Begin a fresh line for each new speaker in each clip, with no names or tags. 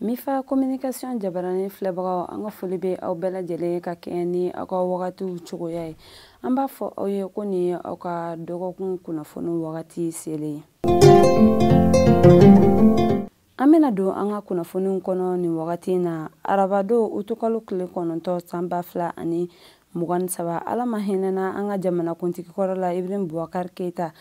mifa communication jabaranin filɛbagaw an ka foli bɛ aw bɛɛ lajɛlen ka kɛɲɛ ni aw ka wagatiw cogoya ye an b'a fɔ aw ye ko nin ye aw ka dɔgɔkun kunnafoni wagati selen ye an bɛna don an ka kunnafoniw kɔnɔ nin wagati in na arabadon utukalo tile kɔnɔntɔn san ba fila ani mugan ni saba ala ma hinɛna an ka jamanakuntigi kɔrɔ la ibrahim bubakari keita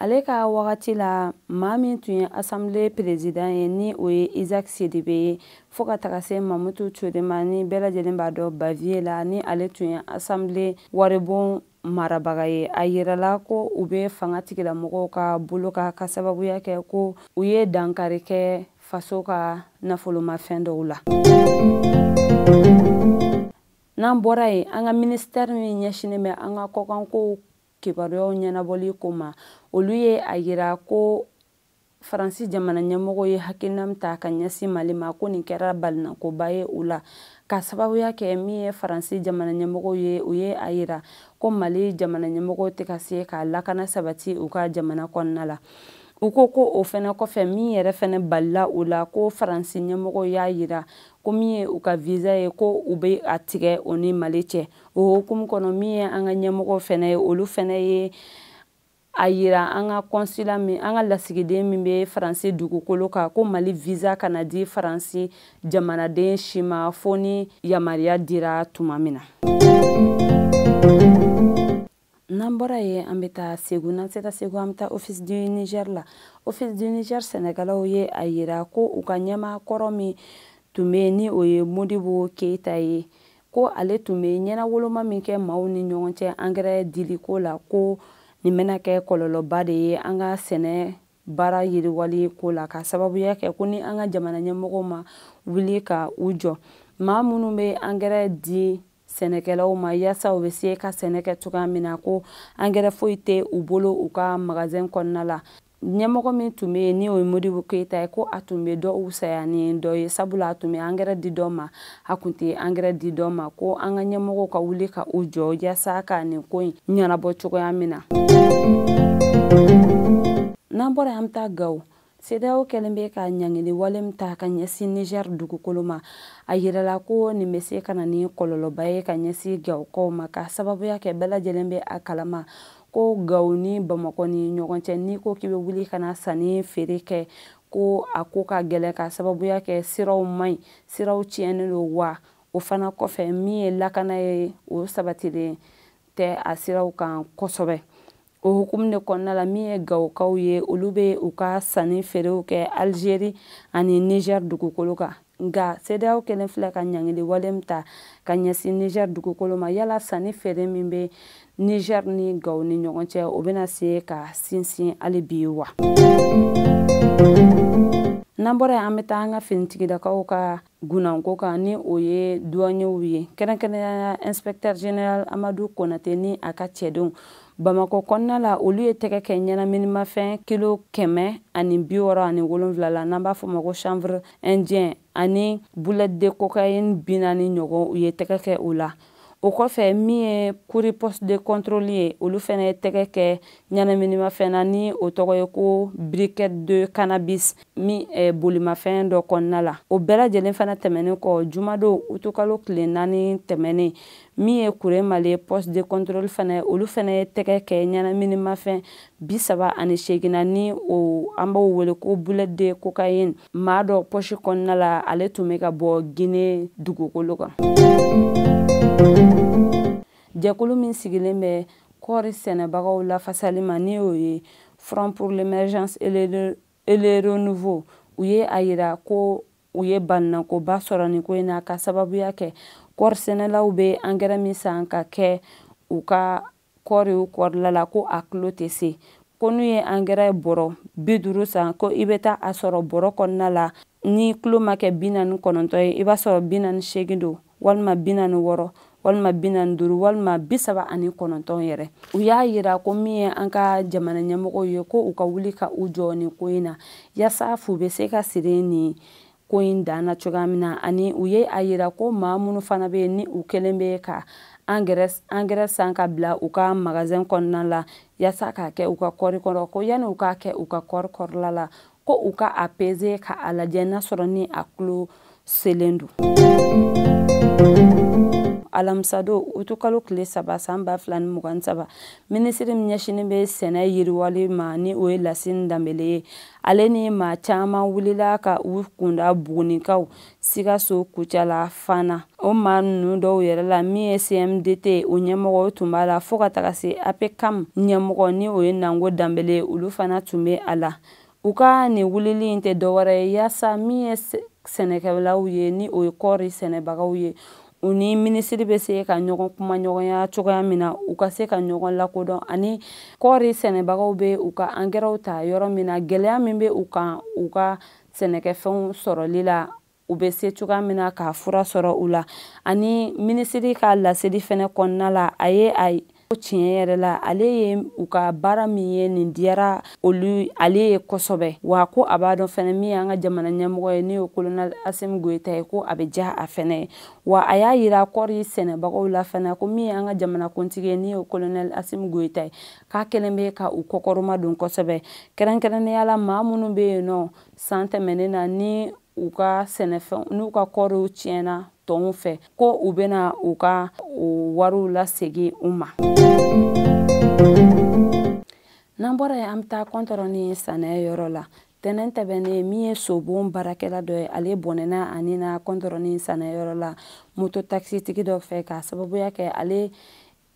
ale ka wagati la maa min tun ye asanbile perezidan ye ni o ye isaka sidibe ye fo ka taga se mamutu ture ma ni bɛɛ lajɛlen b'a dɔn baviye la ni ale tun ye asanbile waribon marabaga ye a yirala ko u bɛ fangatigilamɔgɔw ka bolo kan k'a sababuya kɛ ko u ye dankari kɛ faso ka nafolomafɛn dɔw la n'an bɔra yen an ka minisitɛri min ɲɛsinnen bɛ an ka kɔkanko kibaruyaw ɲɛnabɔli ko ma olu ye a yira ko faransi jamana ɲɛmɔgɔ ye hakilina min ta ka ɲɛsin mali ma ko nin kɛra balinakoba ye u la k'a sababuya kɛ min ye faransi jamana ɲɛmɔgɔ ye u ye a yira ko mali jamana ɲɛmɔgɔw tɛ ka se ka lakana sabati u ka jamana kɔnɔna la u ko ko o fɛnɛ kɔfɛ min yɛrɛ fɛnɛ balila u la ko faransi ɲɛmɔgɔw y'a yira ko min ye u ka visa ye ko u bɛ a tigɛ u ni mali cɛ o hukumu kɔnɔ min ye an ka ɲɛmɔgɔw fɛnɛ ye olu fɛnɛ ye a yira an ka kɔnsula min an ka lasigiden min bɛ faransi dugukolo kan ko mali visa kana di faransi jamanaden si ma fo ni yamaruya dira tuma min na n'an bɔra yen an bɛ taa segu n'an sera segu an bɛ taa office du niger la office du niger sɛnɛkɛlaw ye a yira ko u ka ɲɛmaa kɔrɔ min tun bɛ yen ni o ye modibo keyita ye ko ale tun bɛ ɲɛnawoloma min kɛ maaw ni ɲɔgɔn cɛ angɛrɛ diliko la ko nin bɛna kɛ kɔlɔlɔba de ye an ka sɛnɛ baara yiriwali ko la k'a sababuya kɛ ko ni an ka jamana ɲɛmɔgɔw ma wuli ka u jɔ maa minnu bɛ angɛrɛ di sɛnɛkɛlaw ma yaasa u bɛ se ka sɛnɛ kɛ cogoya min na ko angɛrɛ foyi tɛ u bolo u ka magazɛn kɔnɔna la ɲɛmɔgɔ min tun bɛ yen ni o ye modibo keyita ye ko a tun bɛ dɔ wusaya ni dɔ ye sabula a tun bɛ angɛrɛ di dɔ ma a tun tɛ angɛrɛ di dɔ ma ko an ka ɲɛmɔgɔw ka wuli ka u jɔ yaasa ka nin ko in ɲɛnabɔ cogoya min na n'an bɔra an bɛ taa gawo CEDEAO kɛlen bɛ ka ɲangili wale min ta ka ɲɛsin Niger dugukolo ma, a yirala ko nin bɛ se ka na ni kɔlɔlɔba ye ka ɲɛsin Gawokaw ma, k'a sababuya kɛ bɛɛ lajɛlen bɛ a kalama ko Gawo ni Bamakɔ ni ɲɔgɔn cɛ, n'i ko k'i bɛ wuli ka na sanni feere kɛ, ko a ko ka gɛlɛn, k'a sababuya kɛ siraw man ɲi, siraw tiɲɛnen don, wa o fana kɔfɛ min ye lakana ye, o sabatilen tɛ a siraw kan kosɛbɛ. o hukumu de kɔnɔna la min ye gawokaw ye olu bɛ u ka sanni feerew kɛ alizeri ani niger dugukolo kan nka sedeyaw kɛlen filɛ ka ɲangili wale min ta ka ɲɛsin niger dugukolo ma yala sanni feere min bɛ niger ni gawo ni ɲɔgɔn cɛ o bɛna se ka sinsin hali bi wa n'an bɔra yen an bɛ taa an ka finitigilakaw ka gunnanko kan ni o ye duwanyew ye kɛrɛnkɛrɛnnenya inspecteur général amadu konate ni a ka cɛdenw bamakɔ kɔnɔna la olu ye tɛgɛ kɛ ɲɛnaminimafɛn kilo kɛmɛ ani bi wɔɔrɔ ani wolonwula la n'an b'a fɔ ma ko chanvre indien ani boulette de cocaïne bi naani ɲɔgɔn u ye tɛgɛ kɛ o la o kɔfɛ min ye kuri poste de contrôle ye olu fɛnɛ ye tɛgɛ kɛ ɲɛnaminimafɛn na ni o tɔgɔ ye ko briquette de cannabis min eh, bolimafɛn dɔ kɔnɔna la o bɛɛ lajɛlen fana tɛmɛnen kɔ jumadon utukalo tile naani tɛmɛnen min ye kuremale poste de contrôle fana olu fana ye tɛgɛ kɛ ɲɛnaminimafɛn bi saba ani seegin na ni o an b'o wele ko boulette de cocaïne maa dɔ pɔsi kɔnɔna la ale tun bɛ ka bɔ gine dugukolo kan jɛkulu min sigilen bɛ kɔɔri sɛnɛbagaw lafasali ma ni o ye front pour l'émergence et le renouveau u ye a yira ko u ye balinakoba sɔrɔ nin ko in na ka sababuya kɛ kɔɔri sɛnɛlaw bɛ angɛrɛ min san ka kɛ u ka kɔɔri kɔrɔla la ko a kilo tɛ se ko n'u ye angɛrɛ bɔrɔ bi duuru san ko i bɛ taa a sɔrɔ bɔrɔ kɔnɔna la ni kilo ma kɛ bi naani kɔnɔntɔn ye i b'a sɔrɔ bi naani seegin don walima bi naani wɔɔrɔ walima bi naani duuru walima bi saba ani kɔnɔntɔn yɛrɛ u y'a yira ko min ye an ka jamana ɲɛmɔgɔw ye ko u ka wuli ka u jɔ nin ko in na yaasa fu bɛ se ka siri nin ko in dan na cogoya min na ani u ye a yira ko maa minnu fana bɛ yen ni u kɛlen bɛ ka angɛrɛ san ka bila u ka magazɛn kɔnɔna la yaasa k'a kɛ u ka kɔɔri kɔrɔ ko yanni u k'a kɛ u ka kɔɔri kɔrɔla la ko u ka a peze ka a lajɛ n'a sɔrɔ ni a kilo selen don alamisadon utukalo tile saba san ba fila ni mugan saba minisiri min ɲɛsinin bɛ sɛnɛ yiriwali ma ni o ye lasini danbele ye ale ni maa caman wulila ka u kunda buguni kan sikaso kucala fana o maa ninnu dɔw yɛrɛ la min ye cmdt o ɲɛmɔgɔ tun b'a la fɔɔ ka taga se apcam ɲɛmɔgɔ ni o ye nango danbele olu fana tun bɛ a la u ka nin wulili in tɛ dɔwɛrɛ ye yaasa min ye sɛnɛkɛlaw ye ni o ye kɔɔri sɛnɛbagaw ye u ni minisiri bɛ se ka ɲɔgɔn kumaɲɔgɔnya cogoya min na u ka se ka ɲɔgɔn lakodɔn ani kɔɔri sɛnɛbagaw bɛ u ka angɛrɛw ta yɔrɔ min na gɛlɛya min bɛ u kan u ka sɛnɛkɛfɛnw sɔrɔli la u bɛ se cogoya min na ka fura sɔrɔ u la ani minisiri ka laseli fɛnɛ kɔnɔna la a ye a ko tiɲɛ yɛrɛ la ale ye u ka baara min ye nin diyara olu ale ye kosɛbɛ wa ko a b'a dɔn fɛnɛ min y'an ka jamana ɲɛmɔgɔ ye n'o ye kolonɛli asimi goyita ye ko a bɛ diya a fɛnɛ ye wa a y'a yira kɔɔri sɛnɛbagaw la fɛnɛ ko min y'an ka jamana kuntigi ye n'o ye kolonɛli asimi goyita ye k'a kɛlen bɛ ka u kɔkɔrɔmadon kosɛbɛ kɛrɛnkɛrɛnnenya la maa minnu bɛ yen nɔ san tɛmɛnen na ni u ka sɛnɛfɛn n'u ka kɔɔriw tiɲɛna tɔnw fɛ ko u bɛna u ka wariw lasegin u ma n'an bɔra yen an bɛ taa kɔntɔrɔni sɛnɛ yɔrɔ la tɛnɛn tɛmɛnen min ye sobon baarakɛla dɔ ye ale bɔnɛna a ni na kɔntɔrɔni sɛnɛ yɔrɔ la moto takisitigi dɔ fɛ k'a sababuya kɛ ale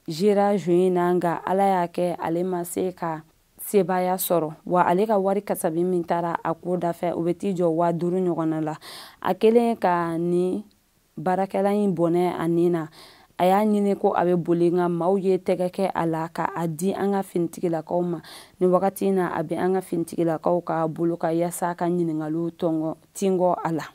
jera juin na nka ala y'a kɛ ale ma se ka sebaaya sɔrɔ wa ale ka wari kasabi min taara a ko dafɛ o bɛ t'i jɔ waa duuru ɲɔgɔnna la a kɛlen ka ni baarakɛla in bɔnɛ a ni na a y'a ɲini ko a bɛ boli nka maaw ye tɛgɛ kɛ a la ka a di an ka finitigilakaw ma ni wagati in na a bɛ an ka finitigilakaw ka bolo ka yaasa ka ɲininkaliw tingɔ a la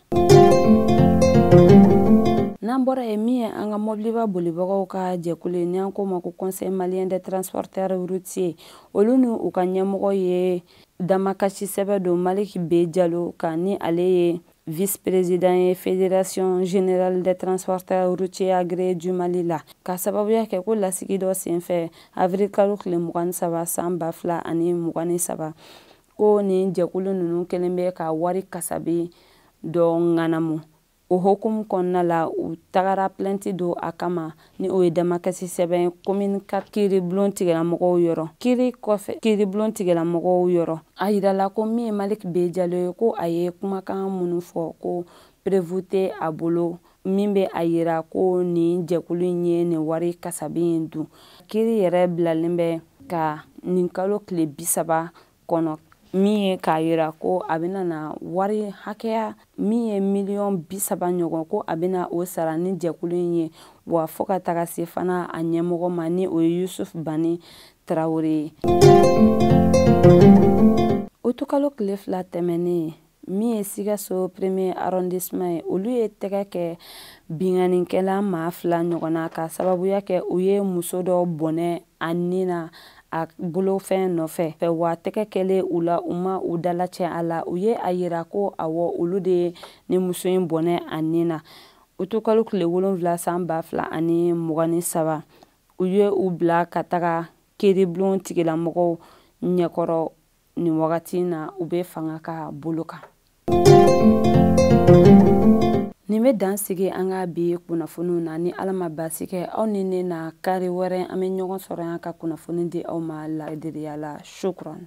n'an bɔra yen min ye an ka mobiliba bolibagaw ka jɛkulu ye n'an k'o ma ko conseil malien des transporteurs routiers olu ni u ka ɲɛmɔgɔ ye damakasi sɛbɛn don maliki be jalo kan ni ale ye vice président ye fédération générale des transporteurs routiers agréés du mali la k'a sababuya kɛ ko lasigi dɔ senfɛ avril kalo tile mugan ni saba san ba fila ani mugan ni saba ko nin jɛkulu ninnu kɛlen bɛ ka wari kasabi dɔ ŋanamu o hukumu kɔnɔna la u tagara plɛnti don a kama ni o ye damakasi sɛbɛn ye komini ka kiiribulon tigilamɔgɔw yɔrɔ kiiri kɔfɛ kiiribulon tigilamɔgɔw yɔrɔ a yirala ko min ye maliki be jalo ye ko a ye kumakan minnu fɔ ko preuve tɛ a bolo min bɛ a yira ko nin jɛkulu in ye nin wari kasabi in dun kiiri yɛrɛ bilalen bɛ ka nin kalo tile bi saba kɔnɔ min ye k'a yira ko a bɛna na wari hakɛya min ye miliyɔn bi saba ɲɔgɔn ko a bɛna o sara ni jɛkulu in ye wa fo ka taga se fana a ɲɛmɔgɔ ma ni o ye yusuf bani tarawele ye utukalo tile fila tɛmɛnen min ye sikaso premier arrondissement ye olu ye tɛgɛ kɛ binkannikɛla maa fila ɲɔgɔn na k'a sababuya kɛ u ye muso dɔ bɔnɛ a ni na a bolofɛn nɔfɛ fɛ wa tɛgɛ kɛlen u la u ma u dalacɛ a la u ye a yira ko awɔ olu de ye ni muso in bɔnɛ a ni na utukalo tile wolonfila san ba fila ani mugan ni saba u ye u bila ka taga kiiribulon tigilamɔgɔw ɲɛkɔrɔ nin wagati in na u bɛ fanga ka bolo kan nin bɛ dan sigi an ka bi kunnafoniw na ni ala ma baasi kɛ aw ni ne na kari wɛrɛ an bɛ ɲɔgɔn sɔrɔ yan ka kunnafoni di aw ma laadiriya la shukran